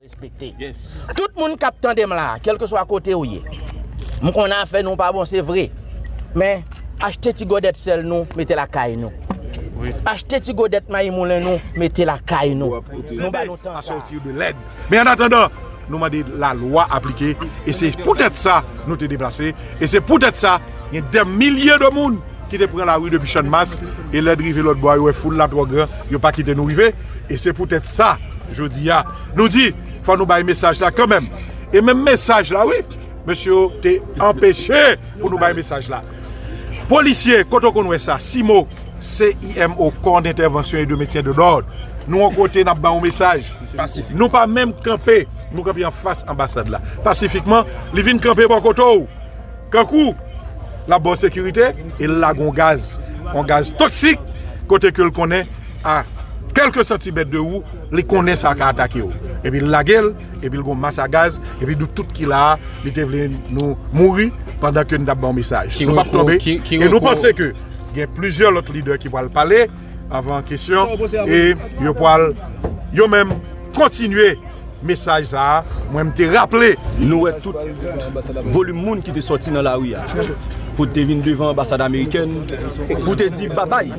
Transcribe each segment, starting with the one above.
Respekte. Tout moun kap tande m la, kelke swa kote ou ye. M konnen afè nou pa bon se vre. Men, achte ti godèt sèl nou, mete lakay nou. Achte ti godèt mayi moulen nou, mete lakay nou. Nou ba nou tan sa. Men an atandan, nou mande la lwa aplike e se pou tèt sa nou te deplase e se pou tèt sa gen dè milye de moun ki te pran lari depi channmas e lèd rive lòt bò a yo wè foul la twò gran yo pa kite nou rive e se pou tèt sa jodi a nou di fò nou bay mesaj la kanmèm e menm mesaj la wi mesye yo te anpeche pou nou bay mesaj la. Polisye, kote w konn wè sa? CIMO, CIMO, Corps d'Intervention et de Maintien de l'Ordre, Nou yon kote nap ba yon mesaj. Nou pa menm kanpe, nou kanpe anfas anbasad la. Pasifikman, li vin kanpe bò kote w. Kankou, lap ba w sekirite, e l lage yon gaz. Yon gaz toksik, kote ke l konnen a kèlke santimèt de ou, li konnen sa ka atake w. Epi l lage l. Epi l gon mas a gaz epi nou tout ki la a li te vle nou mouri pandan ke nou tap baw mesaj. Nou pap tonbe e nou panse ke gen plizyè lòt lidè ki pwal pale avan kesyon e yo pwal yo menm kontinye mesaj sa a mwen m te raple. Nou wè tout volim moun ki te sòti nan lari a pou te vin devan anbasad amerikèn pou te di babay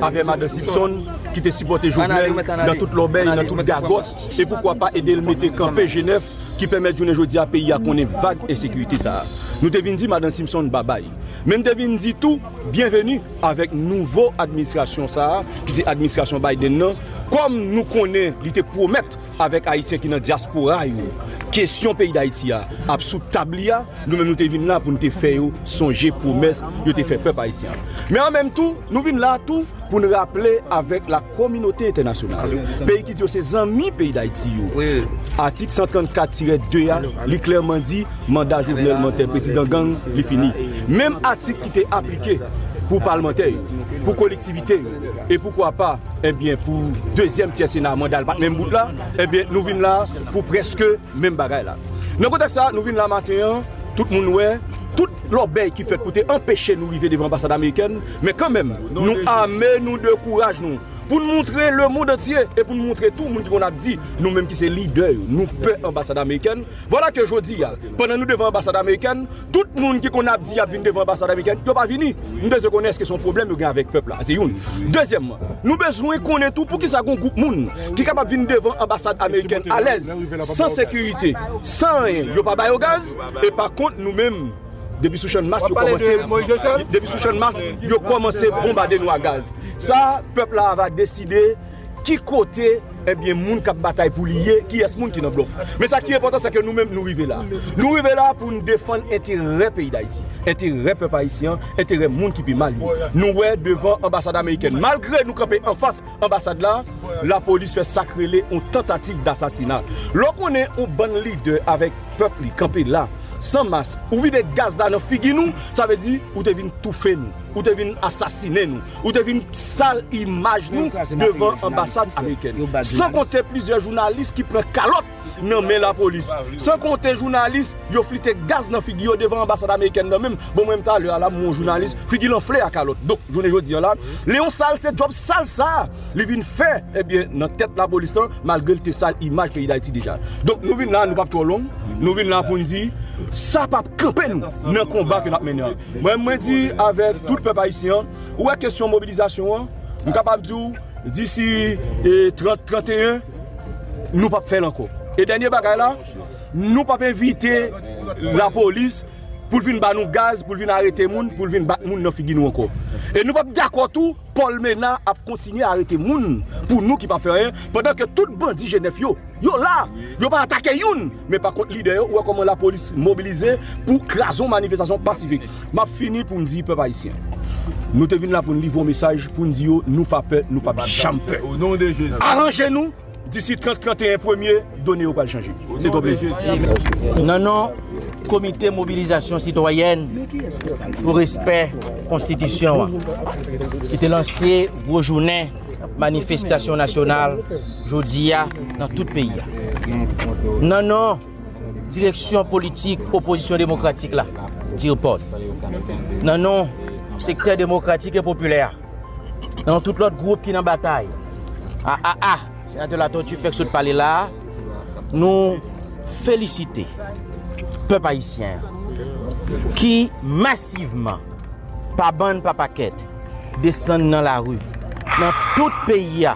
avè madan Sipson ki te sipòte Jovenel nan tout lòbèy nan tout gagòt. E poukwa pa ede l mete kanpe jenèf ki pèmèt jounen jodi a peyi a konnen vag ensekirite sa a. Nou te vin di Madan Simpson babay. Men n te vin di tou byenveni avèk nouvo administrasyon sa a ki se administrasyon Biden nan kòm nou konnen li te pwomèt avèk Ayisyen ki nan dyaspora yo kesyon peyi Dayiti a ap sou tab li a nou menm nou te vin la pou n te fè yo sonje pwomès yo te fè pèp Ayisyen an. Men an menm tou nou vin la tou pou n raple avèk la kominote entènasyonal, peyi ki di yo se zanmi peyi Dayiti yo, atik 134 tirè 2 a, li klèman di manda Jovenel Mantè prezidan gang li fini. Menm atik ki te aplike pou palmantè yo, pou kolektivite yo, e poukwa pa, enbyen pou dezyèm tyè sena manda l pat menm bout la, enbyen nou vin la pou prèske. menm bagay la. Nan kontèks sa a nou vin la maten an, tout moun wè, tout lòbèy ki fèt pou te anpeche nou rive devan anbasad amerikèn, men kanmenm nou ame nou de kouraj nou pou n montre lemond antye e pou n montre tou moun ki konn ap di nou menm ki se lidè yo nou pè anbasad amerikèn. Vwala ke jodi a, pandan nou devan anbasad amerikèn, Tout moun ki konn ap di yap vin devan anbasad amerikèn, yo pa vini. M bezwen konnen eske se yon pwoblèm yo gen avèk pèp la. Se youn. Dezyèmman, nou bezwen konnen tou poukisa gen yon gwoup moun ki kapab vin devan anbasad amerikèn alèz, san sekirite, san anyen, yo pa ba yo gaz, e pa kont nou menm depi sou channmas yo kòmanse depi sou channmas yo kòmanse bonbade nou a gaz. Sa pèp la va deside. Ki kote ebyen moun kap batay pou li ye, kiyès moun ki nan blòf. Men sa ki enpòtan sèke nou menm nou rive la. Nou rive la pou nou defann enterè peyi Dayiti, enterè pèp ayisyen an, enterè moun ki pi mal yo. Nou wè devan anbasad amerikèn, malgre nou kanpe anfas anbasad la, lapolis fè sak rele yon tantativ dasasina. Lè w konnen yon bann lidè avèk pèp li kanpe la, san mas, ou vide gaz la nan figi nou, sa vle di ou te vin toufe nou, ou te vin asasinen nou. Ou te vin sal imaj nou devan anbasad amerikèn. San konte plizyè jounalis ki pran kalòt nan men lapolis. San konte jounalis yo flite gaz nan figi yo devan anbasad amerikèn nan menm. Bon mwen menm talè a la m wè yon jounalis figi l anfle a kalòt. Donk jounen jodi an la, Leon sal se djòb sal sa a li vin fè ebyen nan tèt lapolis lan malgre l te sal imaj peyi Dayiti deja. Donk nou vin la a nou p ap twò long, nou vin la a pou n di sa p ap kanpe nou nan konba ke n ap mennen an. Mwen mwen di avèk tout pèp ayisyen an, ou wè kesyon mobilizasyon an, m kapab di w disi 30, 31 nou pap fè l ankò. E dènye bagay la, nou pap envite lapolis pou l vin ba nou gaz, pou l vin arete moun, pou l vin bat moun nan figi nou ankò. E nou pap dakò tou. Paul Menard ap kontinye arete moun pou nou ki pa fè anyen pandan ke tout bandi Genève yo, yo la, yo pa atake youn, men pa kont lidè yo, ou wè kòman la polis mobilize pou kraze yon manifestasyon pasifik. Map fini pou m di pèp ayisyen, nou te vin la pou n livre yon mesaj pou n di yo nou pa pè, nou pap janm pè. Aranje nou! Disi 30, 31 premye, done yo pral chanje. Se to plezi. Nan non Komite Mobilizasyon Sitwayèn pou Respè Konstitisyon an, ki te lanse gwo jounen manifestasyon nasyonal jodi a nan tout peyi a. Nan non Direksyon Politik Opozisyon Demokratik la, Dirpod. Nan non Sektè Demokratik e Popilè a. Non tout lòt gwoup ki nan batay. A a a, senatè Latortue fèk sot pale la, nou felisite pèp ayisyen ki masivman pa bann pa pakèt desann nan lari nan tout peyi a.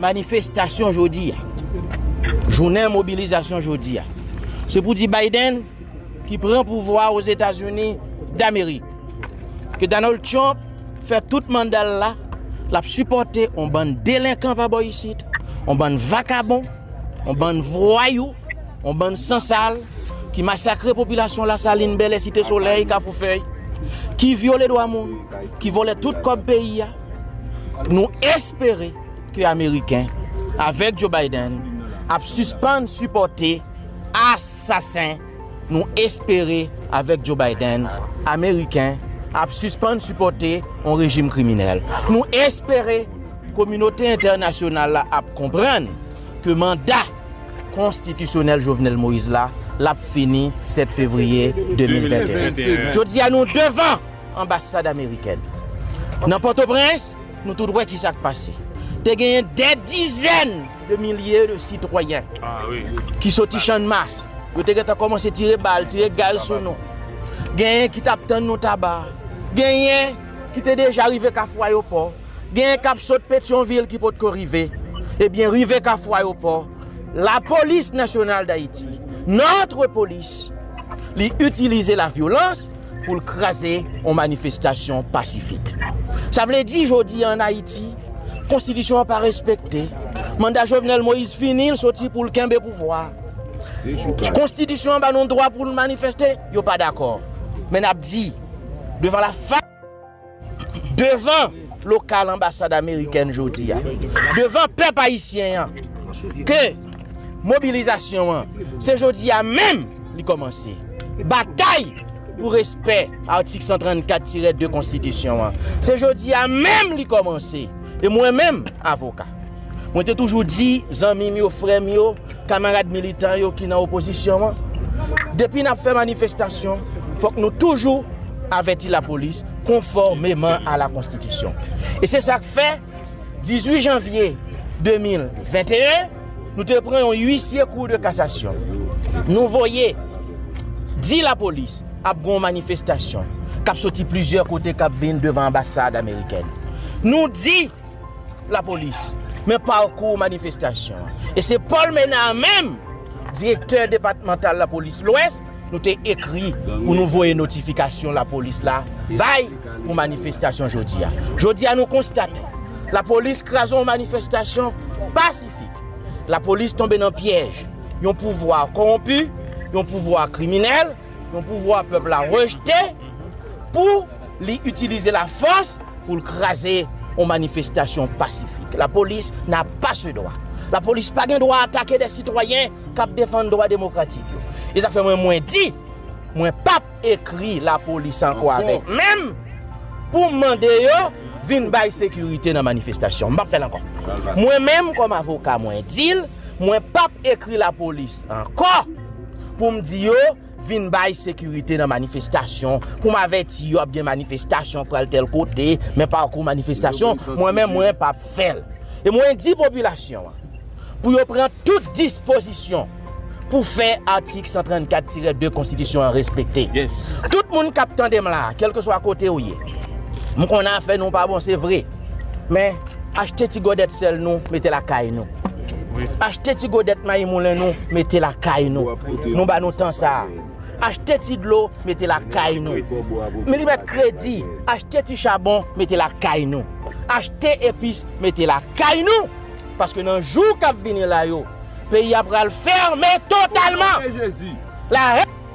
Manifestasyon jodi a, jounen mobilizasyon jodi a, se pou di Biden ki pran pouvwa a Ozetazini Damerik, ke Donald Trump fè tout manda l la, l ap sipòte yon bann delenkan pa bò isit, yon bann vakabon, yon bann vwayou, yon bann sansal ki masakre popilasyon Lasalin, Bèlè, Site Solèy, Kafoufèy, ki vyole dwa moun, ki vòlè tout kòb peyi a. Nou espere ke Ameriken, avèk Joe Biden, ap sispann sipòte asasen Nou espere, avèk Joe Biden, Ameriken ap sispann sipòte yon rejim kriminèl. Nou espere kominote entènasyonal la ap konprann ke manda konstitisyonèl Jovenel Moïse la, l ap fini 7 fevriye 2021. Jodi a nou devan. Anbasad amerikèn nan Pòtoprens, nou tout wè ki sa k pase. Te genyen dè dizèn de milye de sitwayen ki soti Channmas, yo te gentan kòmanse tire bal, tire gaz sou nou. Genyen ki t ap tann nou Taba, genyen ki te deja rive Kafou Ayopò, genyen k ap sot Petyonvil ki potko rive. Ebyen, rive Kafou Ayopò, Lapolis Nasyonal Dayiti, notre police, li itilize lavyolans. pou l kraze yon manifestasyon pasifik. Sa vle di jodi an Ayiti, konstitisyon an pa respekte, manda Jovenel Moïse fini, l soti pou l kenbe pouvwa. Konstitisyon an ba nou dwa pou l manifeste, yo pa dakò. Men ap di, devan la fa. Devan lokal anbasad amerikèn jodi a, devan pèp ayisyen an ke mobilizasyon an se jodi a menm li kòmanse. Batay pou respè atik 134 tire 2 konstitisyon an se jodi a menm li kòmanse e mwen menm avoka. Mwen te toujou di zanmi m yo, frè m yo, kamarad militan yo ki nan opozisyon an, depi n ap fè manifestasyon, fòk nou toujou avèti lapolis konfòmeman a la konstitisyon. E se sa k fè, 18 janvye 2021, nou te pran yon uisye kou de kasasyon. Nou voye di lapolis ap gon manifestasyon k ap soti plizyè kote k ap vin devan anbasad amerikèn. Nou di. Lapolis men pakou manifestasyon an e se Paul Menard menm direktè depatmantal lapolis lwès nou te ekri pou nou voye notifikasyon lapolis la bay pou manifestasyon jodi a. Jodi a nou konstate lapolis kraze yon manifestasyon pasifik, lapolis tonbe nan pyèj yon pouvwa kowonpi, yon pouvwa kriminèl, yon pouvwa pèp la rejte. pou li itilize la fòs pou l kraze yon manifestasyon pasifik. La polis na pa se dwa. La polis pa gen dwa atake de sitwayen kap defann dwa demokratik yo. E sa fè mwen mwen di, mwen pap ekri la polis ankò avèk menm pou m mande yo vin bay sekirite nan manifestasyon. M pap fè l ankò. Mwen menm kòm avoka mwen di l, mwen pap ekri la polis ankò pou m di yo, Vin bay sekirite nan manifestasyon pou m avèti yo ap gen manifestasyon pral tèl kote men pa kou manifestasyon mwen menm mwen pap fè l e mwen di popilasyon an pou yo pran tout dispozisyon pou fè atik 134 tirè 2 konstitisyon an respekte tout moun kap tande m la kèlkeswa kote ou ye m konnen afè nou pa bon se vre. Men, achte ti gòdèt sèl nou, mete lakay nou. Achte ti gòdèt mayi moulen nou, mete lakay nou. Nou ba nou tan sa a. Achte ti dlo, mete lakay nou. Men li mèt kredi, achte ti chabon, mete lakay nou. Achte epis, mete lakay nou! Paske nan jou k ap vini la yo, peyi a pral fèmen totalman! Lare!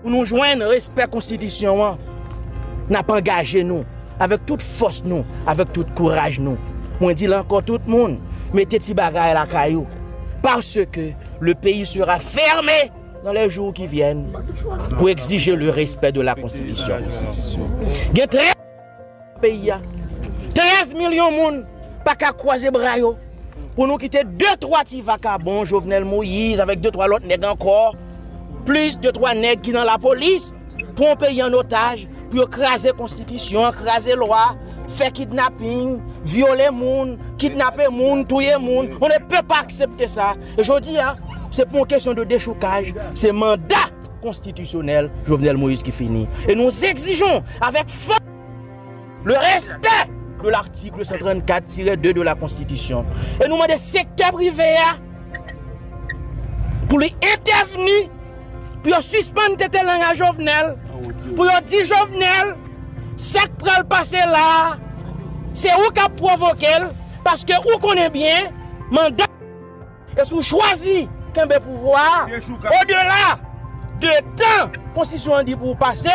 Pou nou jwenn respè konstitisyon an, n ap angaje nou avèk tout fòs nou, avèk tout kouraj nou. Mwen di l ankò tout moun mete ti bagay lakay ou paske le peyi sera ferme dans les jours qui viennent pour exiger le respect de la constitution. Gen trè. peyi a 13 milyon moun paka kwaze bra yo pou nou kite 2 3 ti vakabon Jovenel Moïse avèk 2 3 lòt nèg ankò plis 2 3 nèg ki nan la polis pran peyi an otaj pou yo kraze konstitisyon kraze lwa fè kidnaping vyole moun kidnape moun touye moun on ne peut pas aksepte sa jodi a se pou yon kesyon de dechoukaj se manda konstitisyonèl Jovenel Moïse ki fini e nou egzijou avèk fòs le respè de l'article 134 tire 2 de la konstitisyon e nou mande sektè prive a pou li entèvni pou yo sispann tete lang a Jovenel pou yo di Jovenel sa k pral pase la a se ou k ap pwovoke l paske ou konnen byen manda E si w chwazi kenbe pouvwa a, odela de tan konstitisyon an di pou w pase,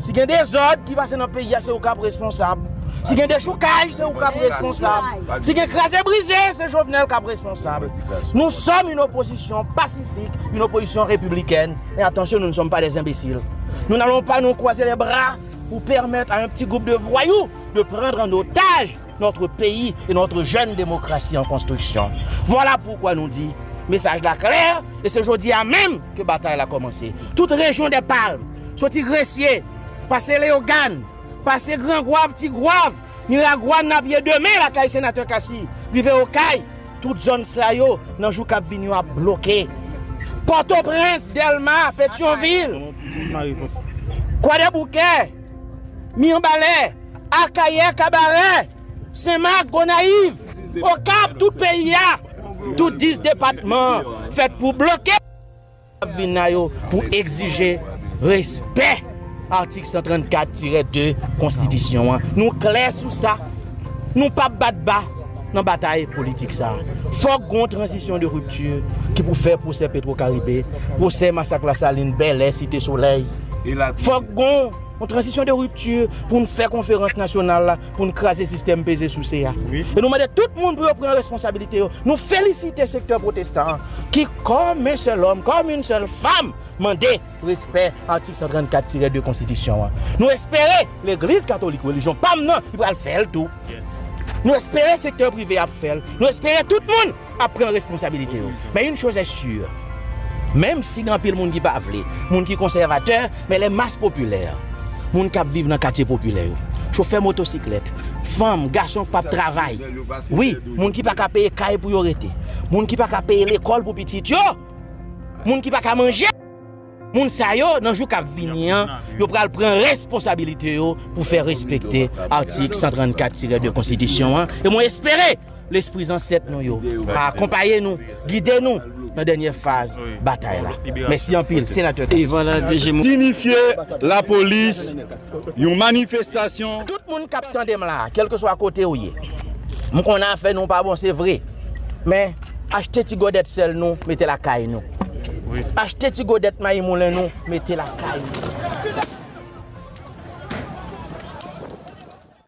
si gen dezòd ki pase nan peyi a se ou k ap responsab, si gen dechoukaj se ou k ap responsab, si gen kraze brize se Jovenel k ap responsab. Nou sòm yn opozisyon pasifik, yn opozisyon repiblikèn, e atansyon nou ne sòm pa dè enbesil. Nou n'alon pa nou kwaze lè bra pou pèmèt a yn pti gwoup de vwayou de prandr an otaj. Notre peyi e notre jèn demokrasi an konstriksyon. Vwala poukwa nou di, mesaj la klè e se jodi a menm ke batay la kòmanse. Tout rejyon dè palm, soti Gresye, pase Leyogàn, pase Gran Gwav, Ti Gwav, Miragwàn nan pye demen lakay Senatè Cassy, rive Okay, tout zòn sa yo nan jou kap vini yo ap bloke. Pòtoprens, Dèlma, Petyonvil, Kwadèboukè. Miyanbalè, Akayè, Kabarè, Senmak, Gonayiv, Okap, tout peyi a, tout 10 depatman an fèt pou bloke moun kap vin la yo pou egzije respè atik 134 tire 2 konstitisyon an. Nou klè sou sa, nou pap bat ba. Nan batay politik sa a, fòk gon tranzisyon de rupti ki pou fè pwosè Petro Karibe, pwosè masak Lasalin, Bèlè, Site Solèy. Fòk gon yon tranzisyon de rupti pou n fè konferans nasyonal la pou n kraze sistèm peze souse a. E nou mande tout moun pou yo pran responsabilite yo. Nou felisite sektè pwotestan an ki kòm en sèl òm, kòm en sèl fam mande. Pou respè atik 134 tirè 2 konstitisyon an. Nou espere legliz katolik relijyon pam nan li pral fèl tou. Nou espere sektè prive ap fèl. Nou espere tout moun ap pran responsabilite yo. Men yn choz est sur. Menm si gen anpil moun ki pa vle, moun ki konsèvatè, men lè mas popilè, moun kap viv nan katye popilè yo, chofè motosiklèt, fanm, gason k pap travay, wi, moun ki paka peye kay pou yo rete, moun ki paka peye lekòl pou pitit yo, Moun ki pa ka manje. Moun sa yo nan jou kap vini an, yo pral pran responsabilite yo pou fè respekte atik 134-2 konstitisyon an, e mwen espere lespri zansèt nou yo a akonpaye nou, gide nou nan dènyè faz batay la. Mèsi anpil, Senatè Cassy. Sinifye lapolis Yon manifestasyon. Tout moun kap tande m la, kelke swa kote ou ye, m konnen afè nou pa bon se vre, men achte ti gòdèt sèl nou mete lakay nou, achte ti gòdèt mayi moulen nou mete lakay nou.